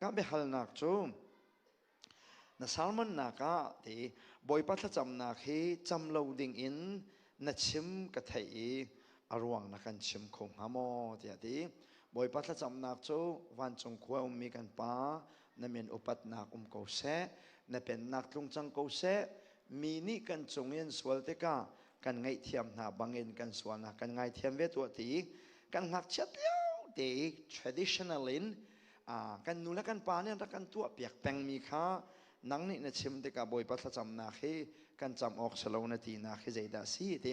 Ka biahalnak cu na salmonnak ah ti bawipa thlacamnak hi cam lo ding in na chim ka thei i a ruang na kan chim kho hnga maw tiah ti bawipa thlacamnak cu vancung khua ummi kan pa na min upatnak um ko seh na pennak tlung cang ko seh mi nih kan cung in sual tikah kan ngaihthiam hna bangin kan sualnak kan ngaithiam ve tuah ti kan ngakchiat lio te traditional in kan nu le kan pa nih an rak kan tuahpiak pengmi kha nang nih na chim tikah bawipa thlacamnak hi kan cam awk si lo na tinak hi zeidah a si ti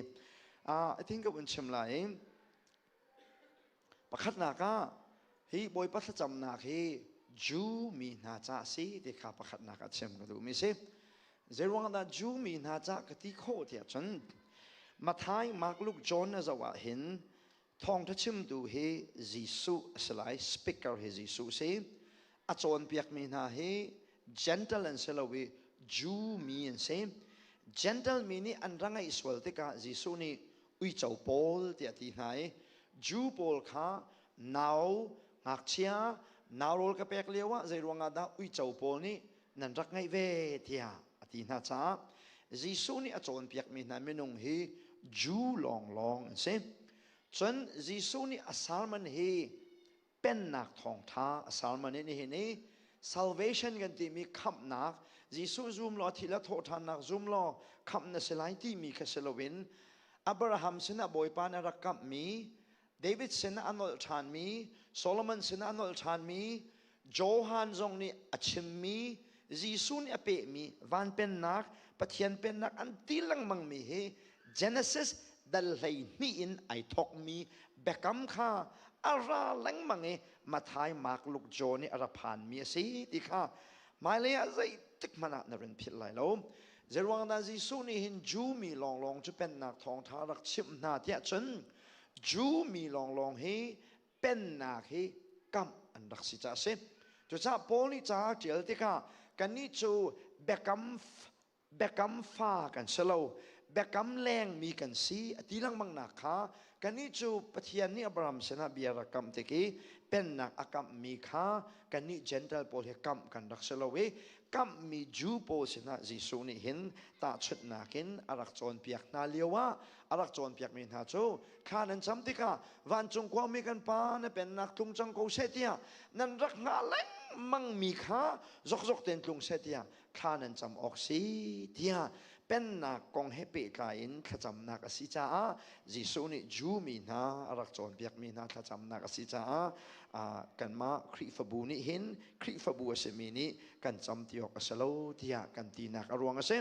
i think ka vun chim lai pakhatnak ah hi bawipa thlacamnak hi Jew mi hna ca si ti kha pakhatnak ah chim ka duhmi si zeiruangah Jew mi hna ca ka ti khawh tiah cun Mathai Mark Luke John na zoh ah hin Thawngtha chimtu hi Jesuh a si lai, speaker hi Jesuh si. A cawnpiakmi hna hi Gentle an si lo i Jew mi an si. Gentle mi nih an ra ngeih sual tikah Jesuh nih uico pawl tiah a ti hna i Jew pawl kha nau ngakchia nau rawl ka pek lioah zei ruangah dah uico pawl nih nan rak ngeih ve tiah a ti hna caah Jesuh nih a cawnpiakmi hna minung hi Jew lawnglawng an si cun Jesuh nih a salmon hi pennak thawngṭha a salmon in hihin i salvation kan timi khamhnak Jesuh zum law thil a thawhṭhannak zum law khamh na si lai timi kha si loin Abraham sinah Bawipa nih a rak kamhmi David sinah a nolh ṭhanmi, Solomon sinah a nolh ṭhanmi, Johan zong nih a chimmi, Jesuh nih a pehmi van pennak, Pathian pennak an ti lengmangmi hi Genesis dal hleihnih in ai thawkmi biakam kha a ra lengmang i Matthai, Mark, Luke, John nih a ra phanmi a si ti kha hmailei ah zeitik hmanh ah na run philh lai lo. Zeruangdah Jesuh nih hin Jew mi lawnglawng cu pennak thawngṭha rak chimh hna tiah cun Jew mi lawnglawng hi pennak hi kamh an rak si ca a si. Cucaah Paul nih ca a ṭial tikah kannih cu biakam biakam fa kan si lo, biakam lengmi kan si a ti lengmangnak kha kannih cu Pathian nih Abraham sinah bia rak kamh tik i pennak a kamhmi kha kannih Jentail pawl hi kamh kan rak si lo i kamhmi Jew pawl sinah Jesuh nih hin tahchunhnak in a rak cawnpiak hna lioah a rak cawnpiakmi hna cu kha nan cham tikah vancung khuami kan pa na pennak tlung cang ko seh tiah nan rak hngah lengmangmi kha zokzok ten tlung seh tiah thla nan cam awk si tiah pennak kong he pehtlai in thlacamnak a si caah Jesuh nih Jew mi hna a rak cawnpiakmi hna thlacamnak a si caah kanmah Khrihfabu nih hin Khrihfabu a simi nih kan cam ti awk a si lo tiah kan tinak a ruang a si.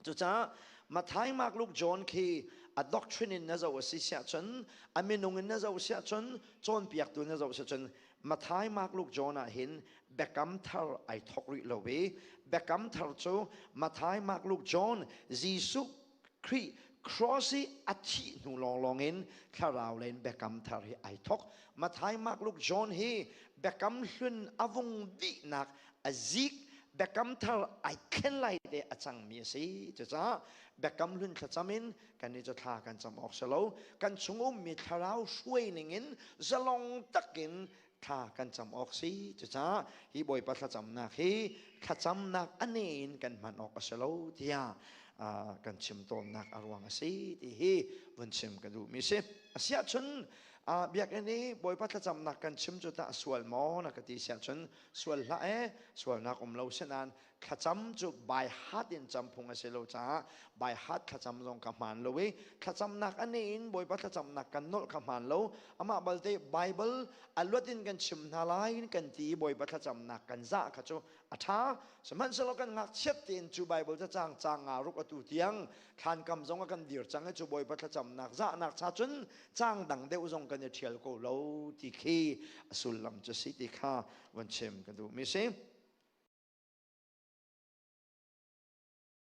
Cucaah Mathai Mark Luke John khi a doctrine in na zoh a si siah cun a minung in na zoh siah cun cawnpiaktu na zoh siah cun Mathai Mark Luke John ah hin biakam thar ai thawk rih lo i biakam thar cu Mathai Mark Luke John Jesuh Khrih cross i a thih hnu lawnglawng in thlarau lei in biakam thar hi ai thawk Mathai Mark Luke John hi biakam hlun a vung dihnak a zik biakam thar ai khen lai te a cangmi a si cucaah biakam hlun thlacam in kan i cu thla kan cam awk si lo kan chung ummi thlarau hruai ning in zalong takin thla kan cam awk si cucaah hi bawipa thlacamnak hi thlacamnak a ne in kan hman awk a si lo tiah kan chim tawnnak a ruang a si ti hi vun chim ka duhmi si asiah cun biakinn i bawipa thlacamnak kan chim cu tah a sual maw na ka ti siah cun sual hlah e sualnak um lo si nain thlacam cu by heart in cam phung a si lo caah by heart thlacam zong ka hmaan lo i thlacamnak a ne in bawipa thlacamnak kan nolh ka hmaan lo amah balte bible a luat in kan chim hna lai in kan ti i bawipa thlacamnak kan zah kha cu a ṭha sihmanhsehlaw kan ngakchiat tein cu bible cacang cang nga ruk atu tiang thlan kam zong a kan dir cang i cu bawipa thlacamnak zahnak cha cun cang dang deuh zong kan i ṭhial ko lo ti khi a sullam cu si ti kha van chim kan duh mi si